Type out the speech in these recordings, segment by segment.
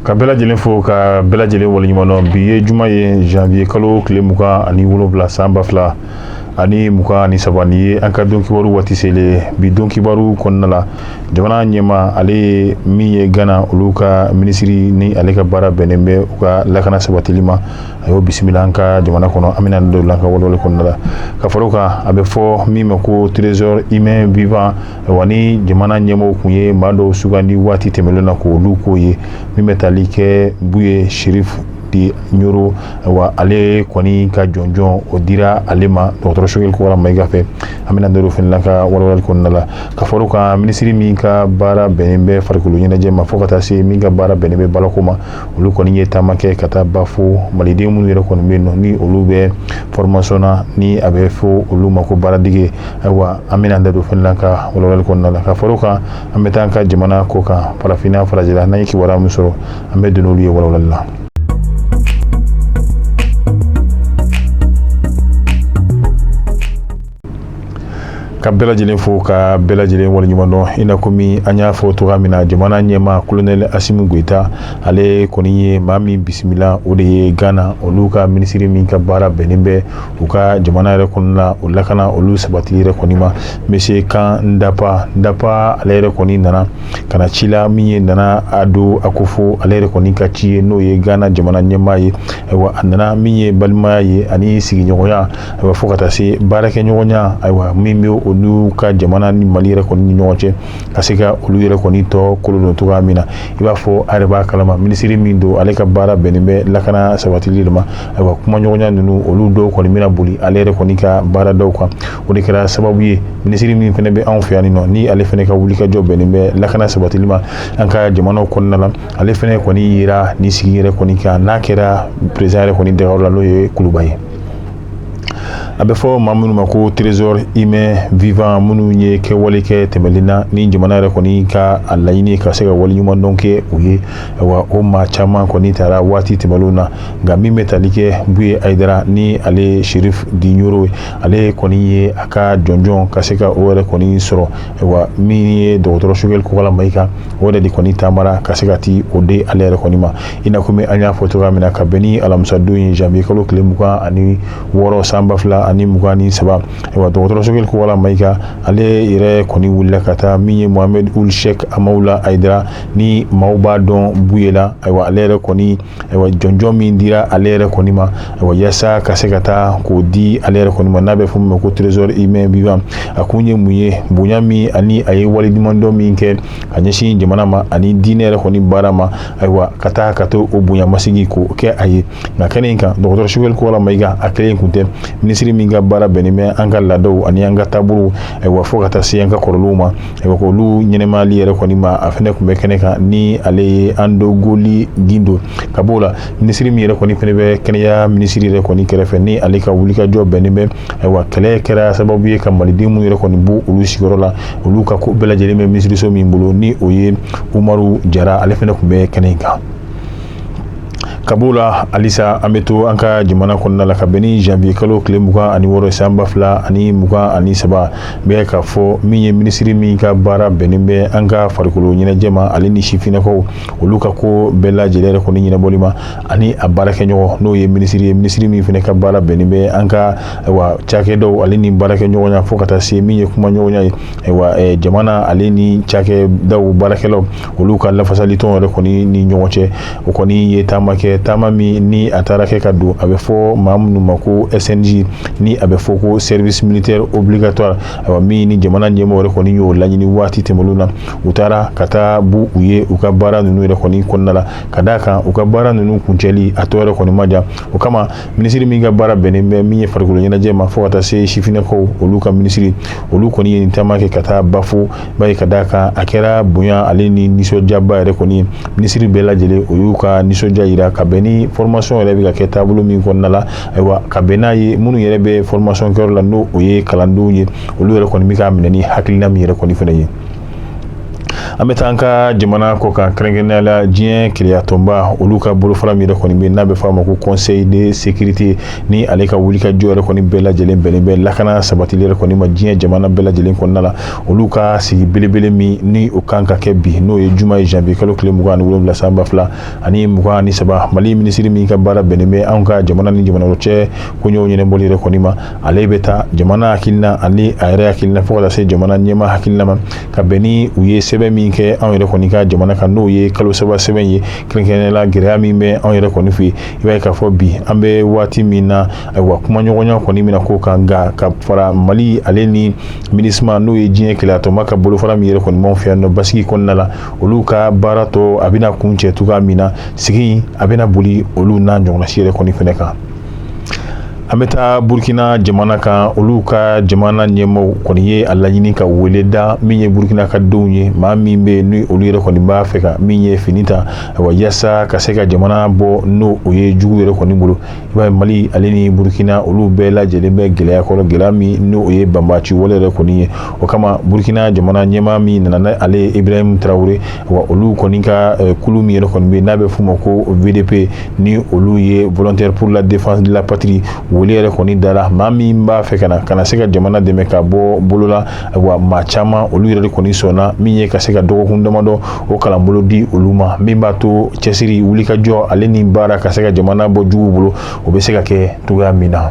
ka bɛɛ lajɛlen fo ka bɛɛ lajɛlen waleɲumandɔn bi ye juma ye janvier kalo tile mugan ani wolonwula san ba fila ani mugan ani saba nin ye an ka don kibaru waati selen bi don kibaru kɔnɔna la jamana ɲɛma ale ye min ye gana olu ka minisiri ni ale ka baara bɛnnen bɛ u ka lakana sabatili ma a y'o bisimila an ka jamana kɔnɔ an bɛna don la an ka walawalali kɔnɔna la ka fara o kan a bɛ fɔ min ma ko trésor humain vivant wa ni jamana ɲɛmɔgɔ tun ye maa dɔw sugandi waati tɛmɛnen na ko olu k'o ye min bɛ tali kɛ buye chérif de nioro wa ale kɔni ka jɔnjɔn o dira ale ma dɔgɔtɔrɔ sogɛli kokala mayiga fɛ an bɛna don fana la an ka walawalali kɔnɔna la ka fara o kan minisiri min ka baara bɛnnen bɛ farikolo ɲɛnajɛ ma fo ka taa se min ka baara bɛnnen bɛ baarako ma olu kɔni ye taama kɛ ka taa ba fo maliden minnu yɛrɛ kɔni bɛ yen nɔ ni olu bɛ formation na ni a bɛ fɔ olu ma ko baaradege ayiwa an bɛna da don fana la an ka walawalali kɔnɔna la ka fara o kan an bɛ taa an ka jamana kɔkan farafinna farajɛla n'an ye kibaruya min sɔrɔ an bɛ don n'olu ye walawalali la ka bɛɛ lajɛlen fo ka bɛɛ lajɛlen waleɲuman dɔn i n'a komi an y'a fɔ cogoya min na jamana ɲɛma kolonɛli asimi goyita ale kɔni ye maa min bisimila o de ye ghana olu ka minisiri min ka baara bɛnnen bɛ u ka jamana yɛrɛ kɔnɔna la o lakana olu sabatili yɛrɛ kɔni ma monsieur kan ndapa ndapa ale yɛrɛ kɔni nana ka na ci la min ye nana ado akufo ale yɛrɛ kɔni ka ci ye n'o ye ghana jamana ɲɛma ye ayiwa a nana min ye balimaya ye ani sigiɲɔgɔnya ayiwa fo ka taa se baarakɛɲɔgɔnya ayiwa min bɛ olu ka jamana ni mali yɛrɛ kɔni ni ɲɔgɔn cɛ ka se ka olu yɛrɛ kɔni tɔ kolo don cogoya min na i b'a fɔ a yɛrɛ b'a kalama minisiri min don ale ka baara bɛnnen bɛ lakana sabatili de ma ayiwa kumaɲɔgɔnya ninnu olu dɔw kɔni bɛna boli ale yɛrɛ kɔni ka baara dɔw kan o de kɛra sababu ye minisiri min fana bɛ anw fɛ yan nɔ ni ale fana ka wulikajɔ bɛnnen bɛ lakana sabatili ma an ka jamanaw kɔnɔna la ale fana kɔni yera nin sigi yɛrɛ kɔni kan n'a kɛra peresidan yɛrɛ kɔni dagayɔrɔ la n'o ye kuluba ye a bɛ fɔ maa minnu ma ko trésor humain vivant minnu ye kɛwale kɛ tɛmɛnen na ni jamana yɛrɛ kɔni ka a laɲini ka se ka waleɲumandɔn kɛ u ye wa o maa caman kɔni tara waati tɛmɛnlen na nka min bɛ tali kɛ buye ayidara ni ale chérif de nioro ye ale kɔni ye a ka jɔnjɔn ka se ka o yɛrɛ kɔni sɔrɔ wa min ye dɔgɔtɔrɔ sogɛli kokala mayiga o yɛrɛ de kɔni taamara ka se ka taa o di ale yɛrɛ kɔni ma i n'a komi an y'a fɔ cogoya min na ka bɛn ni alamisadon ye janvier kalo tile mugan ani wɔɔrɔ san ba fila ani mugan ni saba ayiwa dɔgɔtɔrɔ sogɛli kokala mayiga ale yɛrɛ kɔni wulila ka taa min ye mohamed ould cheikh amawula ayidara ni maaw b'a dɔn buye la ayiwa ale yɛrɛ kɔni ayiwa jɔnjɔn min dira ale yɛrɛ kɔni ma ayiwa yaasa ka se ka taa k'o di ale yɛrɛ kɔni ma n'a bɛ fɔ min ma ko trésor humain vivant a kun ye mun ye bonya min ani a ye waleɲumandɔn min kɛ a ɲɛsin jamana ma ani diinɛ yɛrɛ kɔni baara ma ayiwa ka taa ka to o bonya masigi k'o kɛ a ye nka kɛnɛ in kan dɔgɔtɔrɔ sogɛli kokala mayiga a kelen kun tɛ minisiri min ka baara bɛnnen bɛ an ka laadaw ani an ka taabolow ayiwa fo ka taa se an ka kɔrɔlenw ma ayiwa k'olu ɲɛnɛmayali yɛrɛ kɔni ma a fɛnɛ kun bɛ kɛnɛ kan ni ale ye andogoli gindo ka b'o la minisiri min yɛrɛ kɔni fɛnɛ bɛ kɛnɛya minisiri yɛrɛ kɔni kɛrɛfɛ ni ale ka wulikajɔ bɛnnen bɛ ayiwa kɛlɛ kɛra sababu ye ka maliden minnu yɛrɛ kɔni bɔ olu sigiyɔrɔ la olu ka ko bɛɛ lajɛlen bɛ minisiriso min bolo ni o ye umaru jara ale fɛnɛ kun bɛ kɛnɛ in kan ka b'o la halisa an bɛ to an ka jamana kɔnɔna la ka bɛn ni janvier kalo tile mugan ani wɔɔrɔ san ba fila ani mugan ani saba bɛ k'a fɔ min ye minisiri min ka baara bɛnnen bɛ an ka farikolo ɲɛnajɛ ma ale ni sifinnakaw olu ka ko bɛɛ lajɛlen yɛrɛ kɔni ɲɛnabɔli ma ani a baarakɛɲɔgɔn n'o ye minisiri ye minisiri min fɛnɛ ka baara bɛnnen bɛ an ka ayiwa cakɛdaw ale ni baarakɛɲɔgɔnya fo ka taa se min ye kumaɲɔgɔnya ye ayiwa eh, jamana ale ni cakɛdaw baarakɛlaw olu ka lafasalitɔn yɛrɛ kɔni ni ɲɔgɔn cɛ o kɔni ye taama kɛ taama min ni a taara kɛ ka don a bɛ fɔ maa minnu ma ko snj ni a bɛ fɔ ko service militaire obligatoire ayiwa min ni jamana ɲɛmɔgɔ yɛrɛ kɔni y'o laɲini waati tɛmɛnlenw na u taara ka taa bɔ u ye u ka baara ninnu yɛrɛ kɔni kɔnɔna la ka d'a kan u ka baara ninnu kuncɛli a tɔ yɛrɛ kɔni ma jan o kama minisiri min ka baara bɛnnen bɛ min ye farikolo ɲɛnajɛ ma fo ka taa se sifinnakaw olu ka minisiri olu kɔni ye nin taama kɛ ka taa bafo ba ye ka d'a kan a kɛra bonya ale ni nisɔndiyaba yɛrɛ kɔni ye minisiri bɛɛ lajɛlen o y'u ka nisɔndiya yira ka bɛn ni formation yɛrɛ bɛ ka kɛ taabolo min kɔnɔna la ayiwa ka bɛn n'a ye minnu yɛrɛ bɛ formation kɛyɔrɔ la n'o ye kalandenw ye olu yɛrɛ kɔni bɛ k'a minɛ ni hakilina min yɛrɛ kɔni fɛnɛ ye an bɛ taa an ka jamana kɔ kan kɛrɛnkɛrɛnnenya la diɲɛ kelenyatɔnba olu ka bolofara min yɛrɛ kɔni bɛ n'a bɛ fɔ a ma ko conseil de sécurité ni ale ka wulikajɔ yɛrɛ kɔni bɛɛ lajɛlen bɛnnen bɛ lakana sabatili yɛrɛ kɔni ma diɲɛ jamana bɛɛ lajɛlen kɔnɔna la olu ka sigi belebele min ni o kan ka kɛ bi n'o ye juma ye janvier kalo tile mugan ani wolonwula san ba fila ani mugan ani saba mali minisiri min ka baara bɛnnen bɛ anw ka jamana ni jamana wɛrɛ cɛ koɲɛw ɲɛnɛbɔli yɛrɛ kɔni ma ale bɛ taa jamana hakilina ani a yɛrɛ hakilina fo ka taa se jamana ɲɛmaa hakilina ma ka bɛn ni u ye sɛbɛn min kɛ anw yɛrɛ kɔni ka jamana kan n'o ye kalo saba sɛbɛn ye kɛrɛnkɛrɛnnenya la gɛlɛya min bɛ anw yɛrɛ kɔni fɛ yen i b'a ye k'a fɔ bi an bɛ waati min na wa kumaɲɔgɔnya kɔni min ko kan nka ka fara mali ale ni minusma n'o ye diɲɛ kelenya tɔnba ka bolofara min yɛrɛ kɔni b'anw fɛ yan nɔ basigi kɔnɔna la olu ka baara tɔ a bɛna kuncɛ cogoya min na sigi a bɛna boli olu n'a ɲɔgɔnna si yɛrɛ kɔni fana kan an bɛ taa burukina jamana kan olu ka jamana ɲɛmaa kɔni ye a laɲini ka wele da min ye burukina ka denw ye maa min bɛ ni olu yɛrɛ kɔni b'a fɛ ka min ye fini ta wa yasa ka se ka jamana bɔ n'o o ye jugu yɛrɛ kɔni bolo i b'a ye mali ale ni burukina olu bɛɛ lajɛlen bɛ gɛlɛya kɔrɔ gɛlɛya min n'o ye banbaci wale yɛrɛ kɔni ye o kama burukina jamana ɲɛmaa min nana n'ale ye ibrahim tarawele wa olu kɔni ka eh, kulu min yɛrɛ kɔni bɛ n'a bɛ f'u ma ko vdp ni olu ye volontaire pour la défense de la patrie wele yɛrɛ kɔni dara maa min b'a fɛ ka na ka na se ka jamana dɛmɛ ka bɔ bolo la wa maa caman olu yɛrɛ de kɔni sɔnna min ye ka se ka dɔgɔkun damadɔ o kalanbolo di olu ma min b'a to cɛsiri wulikajɔ ale ni baara ka se ka jamana bɔ jugu bolo o bɛ se ka kɛ cogoya min na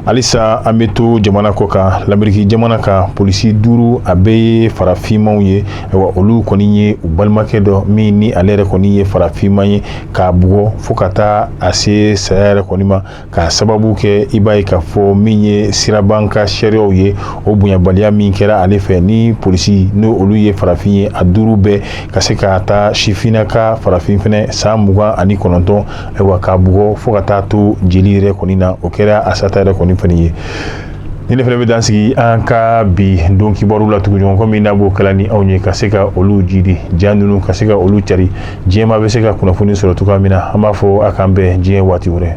halisa an bɛ to jamana kɔ kan lameriki jamana kan polisi duuru a bɛɛ ye farafinmaw ye wa olu kɔni ye u balimakɛ dɔ min ni ale yɛrɛ kɔni ye farafinma ye k'a bugɔ fo ka taa a se saya yɛrɛ kɔni ma k'a sababu kɛ i b'a ye k'a fɔ min ye siraba kan sariyaw ye o bonyabaliya min kɛra ale fɛ ni polisi ni olu ye farafin ye a duuru bɛɛ ka se k'a ta sifinna ka farafin fana san mugan ani kɔnɔntɔn ayiwa k'a bugɔ fo ka taa a to jeli yɛrɛ kɔni na o kɛra a sata yɛrɛ kɔni fana ye ni ne fana bɛ dan sigi an ka bi don kibaru la tuguɲɔgɔn kɔ min n'a b'o kala ni anw ye ka se ka olu jidi ja ninnu ka se ka olu cari diɲɛ maa bɛ se ka kunnafoni sɔrɔ cogoya min na an b'a fɔ a k'an bɛn diɲɛ waati wɛrɛ